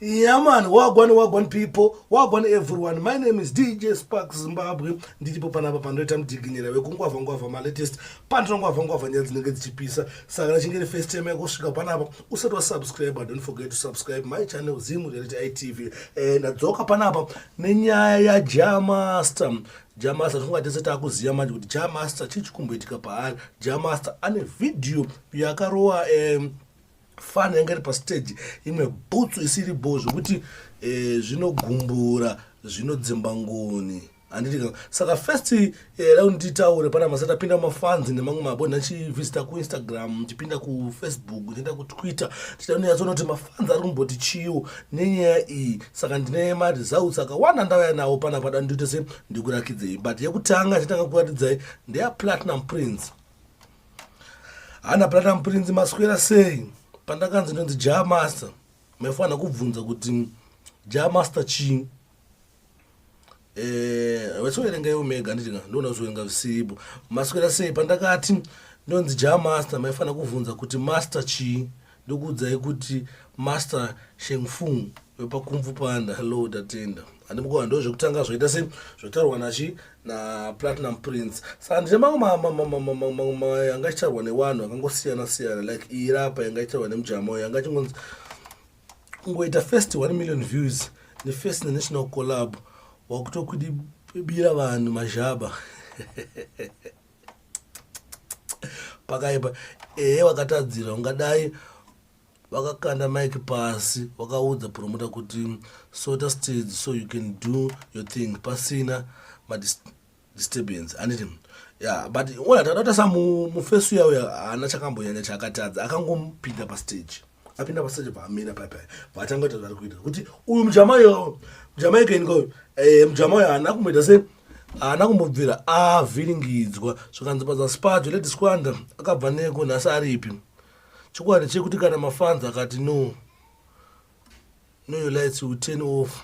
Yeah man, wagwan wagwan people, wagwan everyone. My name is DJ Spark Zimbabwe. Ndiripo panapa panoita mudiginyera wekungwavha ngwavha ma latest. Pandino ngwavha ngwavha nyaya dzinenge dzichipisa. Saka nachinge ri first time yakusvika panapa, usati wa subscribe, don't forget to subscribe my channel Zim Reality ITV. Eh ndadzoka panapa nenyaya ya Jamaster. Jah Master tinonga tese takuziva manje kuti Jah Master chii chikumboitika paari Jah Master ane vhidhiyo yakarova um, fani yanga iri pastage imwe bhutsu isiri bho zvekuti eh, zvinogumbura zvinodzimba ngoni handitika saka first eh, rauni titaure pana masa tapinda mafanzi nemamwe mabonha chivisita kuinstagram tichipinda kufacebook tienda kutwitter tichida nonyatsoona kuti panza ari kumboti chiiwo nenyaya iyi saka ndine maresults akawanda ndauya nawo pana pada ndoita se ndikurakidzei but yekutanga nditanga kuratidzai ndeya platinum prince hana platinum prince maswera sei pandakanzi ndonzi jamaster maifanira kubvunza kuti jamaster chii eh, vachiverenga ivo mega nditi ka ndoona kuzoverenga zvisipo maswera sei pandakati ndonzi ja master maifanira kuvhunza kuti master chii ndokuudzai kuti master shengfung wepakumvu panda hello tatenda handimukova ndo zvekutanga zvoita se zvotaurwa nachi naplatinum prince saka ndine mamwe yanga ichitaurwa newanhu akangosiyana siyana like iyirapa yanga ichitaurwa nemujama yanga chingonzi kungoita first 1 million views nefirst nenational collab wakutokudibira vanhu mazhaba pakaipa ehe wakatadzira ungadai vakakanda mike pasi vakaudza promota kuti sota stage so you can do your thing pasina disturbance anditi ya but ona tadata sa mufesu yawo haana chakambonyanya chaakatadza akangomupinda pastage apinda pastage paamira paipai vatanga kuita zvaari kuita kuti uyu mujamayo mujamayo kaini koyo eh, mujamayo haana kumboita se haana kumbobvira avhiringidzwa zvikanzi paza spajo ledisquanda akabva neko nhasi aripi chokwadi chekuti kana mafanzi akati no no your lights will turn off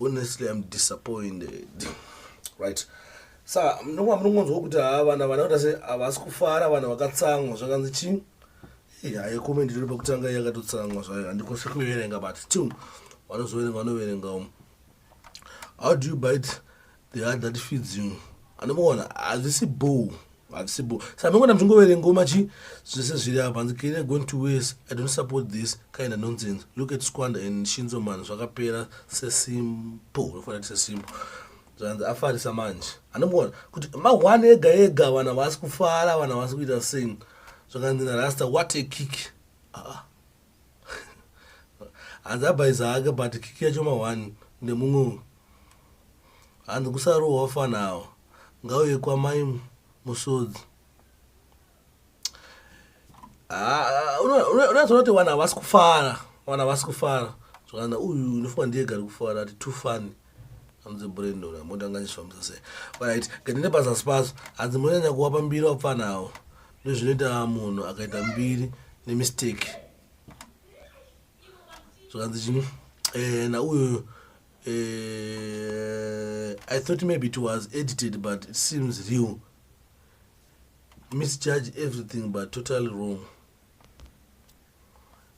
honestly i'm disappointed right sa mnonga munongonzwa kuti haa vana vana kuti ase havasi kufara vanhu vakatsamwa zvakanzi chii hayi comment ndiri pakutanga yakatotsamwa zvayo handikose kuverenga but still vanozoverenga vanoverenga um how do you bite the heart that feeds you anomuona hazvisi boo hazvisi boo sa anongona muchingoverenga ngoma chi zvese zviri apa hanzi kenya going to wes i don't support this kind of nonsense look at squanda and shinzo man zvakapera sesimpo unofanira kuti sesimpo zvanzi afarisa manje anomuona kuti mahwani ega ega vana vasi kufara vana vasi kuita sing zvakanzi narasta what a kick ah. hanzi abhaiza ake but kiki yacho mahwani ndemumwe Hanzi kusarohwa fana awa ngauye kwamai musodzi ah, unazoona kuti vanhu havasi kufara vanhu havasi kufara zvakana uyu unofunga ndiye gari kufara ati too funny hanzi brandon amotanganyiswa musase right gatende pazasi pazo hanzi munonyanya kuwapa mbiri wapfana awo ndozvinoita munhu akaita mbiri nemistake zvakanzi chini eh, nauyoyo eh, i thought maybe it was edited but it seems real misjudge everything but totally wrong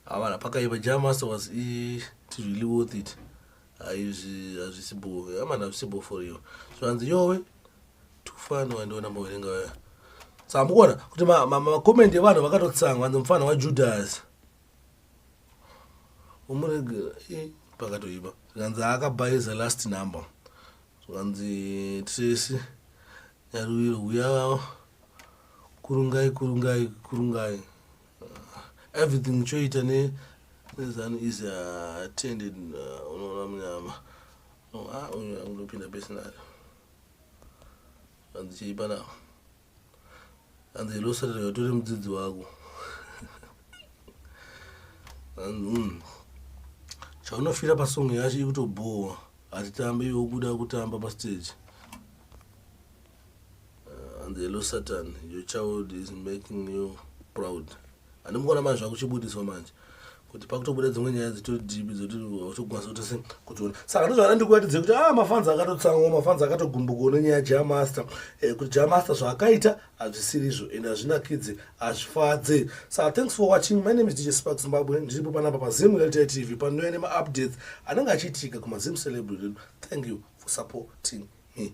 avana pakaiva jamaster was it really worth it hazvisibo amana zvisibo for you zvanzi yowe tufani wandiona mboverenga vaya saka mukuona kuti makomenti evanhu vakatotsanga vanzi mufana wajudhasi umuregera eh, pakatoipa zvikanzi akabhaiza last number zvikanzi tracy nyaruviro huya vavo kurungai kurungai kurungai ah, everything choita ne nezanu is attended ah, unoona munyama ah, uyu angopinda pese nayo zvikanzi cheipa navo and they lost rega tore mudzidzi wako and mm, chaunofira pasong yacho ikutobhowa hatitambe iwe ukuda kutamba pastage uh, and the lo satan your child is making you proud handimukona manje zvakuchibudiswa manje kuti pakutobuda dzimwe nyaya dzitori deep dzoti hautokwanisa kuti se kutiona saka ndozvana ndikuratidze kuti a ah, mafanzi akatotsangwa mafanzi akatogumbukawo nenyaya jamaster eh, kuti jamaster zvaakaita hazvisiri izvo ende hazvinakidze hazvifadze saka thanks for watching my name is dj spark zimbabwe ndiripo panapa pazim reality tv panouya nemaupdates anenge achiitika kumazim celebry redu thank you for supporting me